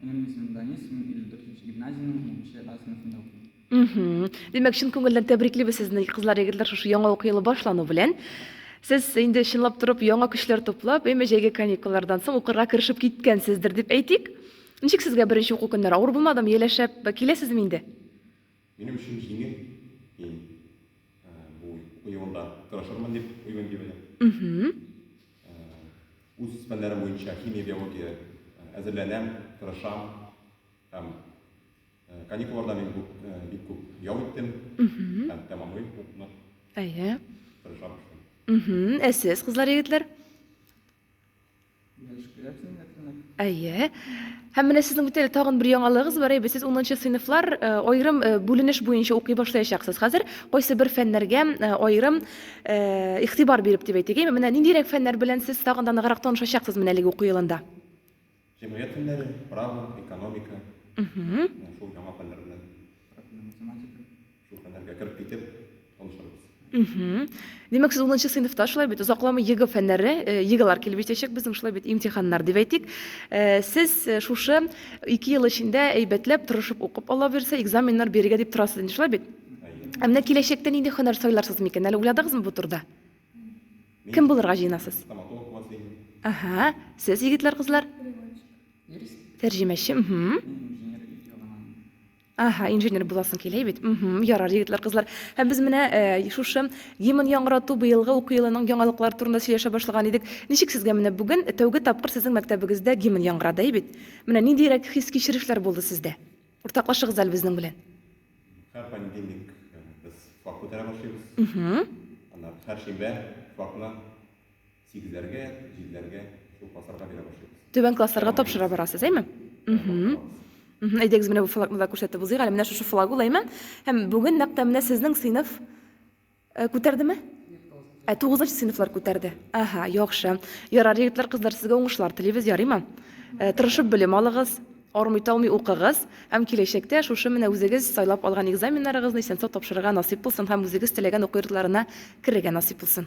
Минем исемем Данис, мин 54 гимназиянең 7 А сыйныфында укыйм. Димәк, чын күңелдән тәбриклибез сезне, кызлар, егетләр, шушы яңа уку елы башлану белән. Сез инде чынлап торып яңа көчләр туплап, әйме җәйге каникуллардан соң укырга керешеп киткәнсездер дип әйтик. Ничек сезгә беренче уку көннәре? Авыр булмадымы, ияләшәп киләсезме инде? Минем өчен җиңел, мин бу уку елында тырышырмын дип уйлыйм, дип әйтә. Үз фәннәрем буенча химия, биология әзерләнәм, тырышам һәм каникулларда мин күп, бик күп ял иттем һәм тәмамлыйм укуны. Әйе. Тырышам. Ә сез, кызлар, егетләр? Әйе. Һәм менә сезнең бит әле тагын бер яңалыгыз бар, әйбәт, сез 10 сыйныфлар э, аерым э, бүленеш буенча укый башлаячаксыз. Хәзер кайсы бер фәннәргә э, аерым игътибар биреп дип әйтик. Менә ниндирәк фәннәр белән сез тагын да ныграк танышачаксыз менә әлеге уку елында? Җәмгыять фәннәре, право, экономика, Мхм. менә шул яңа фәннәр белән Профильле математика. шул фәннәргә кереп китеп танышырбыз. Мхм. Димәк, сез унынчы сыйныфта, шулай бит? Озакламый ЕГЭ фәннәре, э, ЕГЭлар килеп җитәчәк безнең, шулай бит, имтиханнар дип әйтик. Э, Сез э, шушы ике ел эчендә әйбәтләп, тырышып укып, Алла бирсә, экзаменнар бирергә дип торасыз инде, шулай бит? Әйе. Ә менә киләчәктә нинди һөнәр сайларсыз микән? Әле уйладыгызмы бу турыда? Кем булырга җыенасыз? Стоматолог буласыз инде. Ага, сез егетләр, кызлар? Тәрҗемәче, мхм. Ага, инженер буласың килә бит. Мхм, ярар, егетләр, кызлар. Һәм без менә э, шушы гимн яңгырату быелгы уку елының яңалыклары турында сөйләшә башлаган идек. Ничек сезгә менә бүген тәүге тапкыр сезнең мәктәбегездә гимн яңгырады, әй бит? Менә ниндирәк хис-кичерешләр булды сездә? Уртаклашыгыз әле безнең белән. Һәр понедельник без флаг күтәрә башлыйбыз. Ана һәр шимбә флагны сигезләргә, җиделәргә шул классларга бирә башлыйбыз. Түбән классларга тапшыра барасыз, әйме? Әйдәгез, менә бу флагны да күрсәтеп узыйк әле. Менә шушы флаг ул, әйме? Һәм бүген нәкъ тә менә сезнең сыйныф Э, күтәрдеме? Ә тугызынчы сыйныфлар күтәрде. Ага, яхшы. Ярар, егетләр, кызлар, сезгә уңышлар телибез, ярыймы? Э, тырышып белем алыгыз, армый талмый укыгыз һәм киләчәктә шушы менә үзегез сайлап алган экзаменнарыгызны исән-сау тапшырырга насыйп булсын һәм үзегез теләгән уку йортларына керергә насыйп булсын.